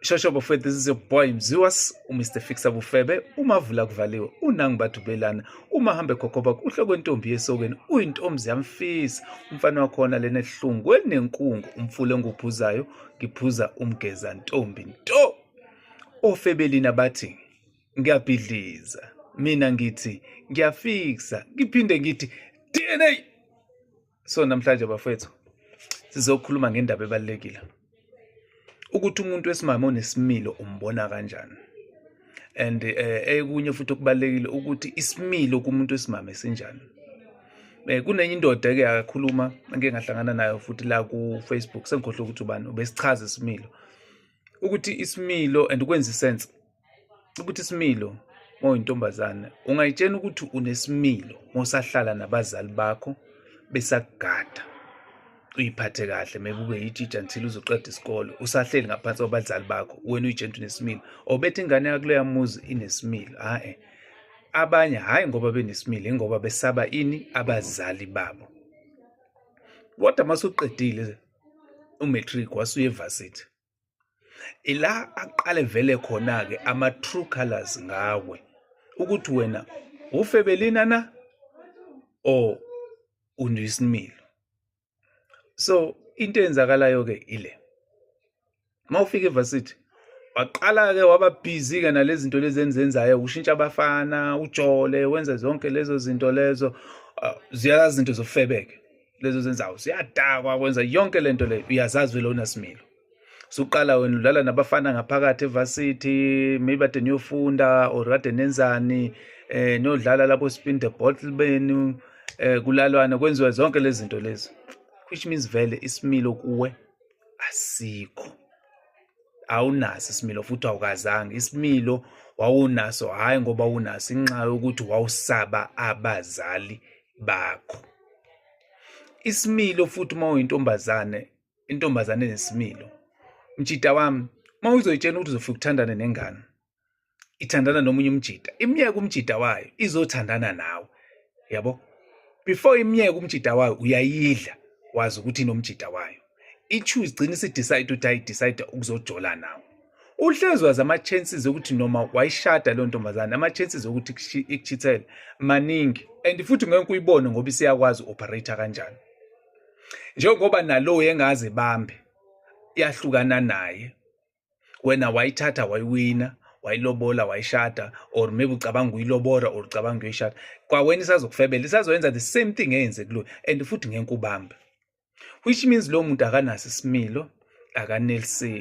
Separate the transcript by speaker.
Speaker 1: shosho bafethu this is your boy mziwas umr fixa bufebe uma vula kuvaliwe unangi bathubelana uma hambe khokhoba kuhle kwentombi yesokeni uyintombi yamfisa umfana wakhona lena ehlungu elinenkungu umfule enguphuzayo ngiphuza umgeza ntombi nto ofebelina bathi ngiyabhidliza mina ngithi ngiyafiksa ngiphinde ngithi dna so namhlanje bafethu sizokhuluma ngendaba ebalulekile ukuthi umuntu wesimame onesimilo umbona kanjani and eh, ekunye futhi okubalulekile ukuthi isimilo kumuntu wesimame sinjani eh kunenye indoda ke akakhuluma ngeke ngahlangana nayo futhi la ku Facebook sengikhohle ukuthi ubani ubesichaza isimilo ukuthi isimilo and ukwenza isense ukuthi isimilo oyintombazane ungayitshena ukuthi unesimilo mosahlala nabazali bakho besakugada uyiphathe kahle maybe ube yitshitsha until uzoqeda isikole usahleli ngaphansi kwabazali bakho wena uyitshena ukuthi unesimilo obethi ingane yakuleya muzi inesimilo hae abanye hhayi ngoba benesimilo ingoba besaba ini abazali babo kodwa masuqedile umatric wasuye evasithi ila aqale vele khona ke ama true colors ngawe ukuthi wena ufebelina na or undiyisimilo so into eyenzakalayo ke ile mawufika evarsity waqala ke waba busy ke nalezi zinto lezi enzenzayo ushintsha abafana ujole wenze zonke lezo zinto lezo ah, ziyala zinto zofebeke lezo zenzawo ziyadakwa kwenza yonke lento le uyazazi vele unasimilo suqala wena udlala nabafana ngaphakathi evarsity maybe kade niyofunda or kade nenzani eh niyodlala lapho spin the bottle benu eh kulalwana kwenziwa zonke lezi zinto lezi which means vele isimilo kuwe asikho awunaso isimilo futhi awukazange isimilo wawunaso hhayi ngoba unaso inxa yokuthi wawusaba abazali bakho isimilo futhi uma uyintombazane intombazane nesimilo mjita wami uma uzoyitshela ukuthi uzofika uthandane nengane ithandana nomunye umjita imyeke umjita wayo izothandana nawe yabo before imyeke umjita wayo uyayidla wazi ukuthi inomjita wayo i-choose igcina isidecide ukuthi ayidecide ukuzojola nawo uhlezi wazi ama-chances okuthi noma wayishada leyo ntombazane ama-chances okuthi ikuchithele maningi and futhi ngeke uyibone ngoba isiyakwazi u-operator kanjani njengoba nalowo engazi bambe yahlukana naye wena wayithatha wayiwina wayilobola wayishada or maybe ucabanga ukuyilobora or ucabanga ukuyoyishada kwawena isazokufebela isazoyenza the same thing eyenze kuloyo and futhi ngeke ubambe which means lowo muntu akanaso isimilo akaneliseki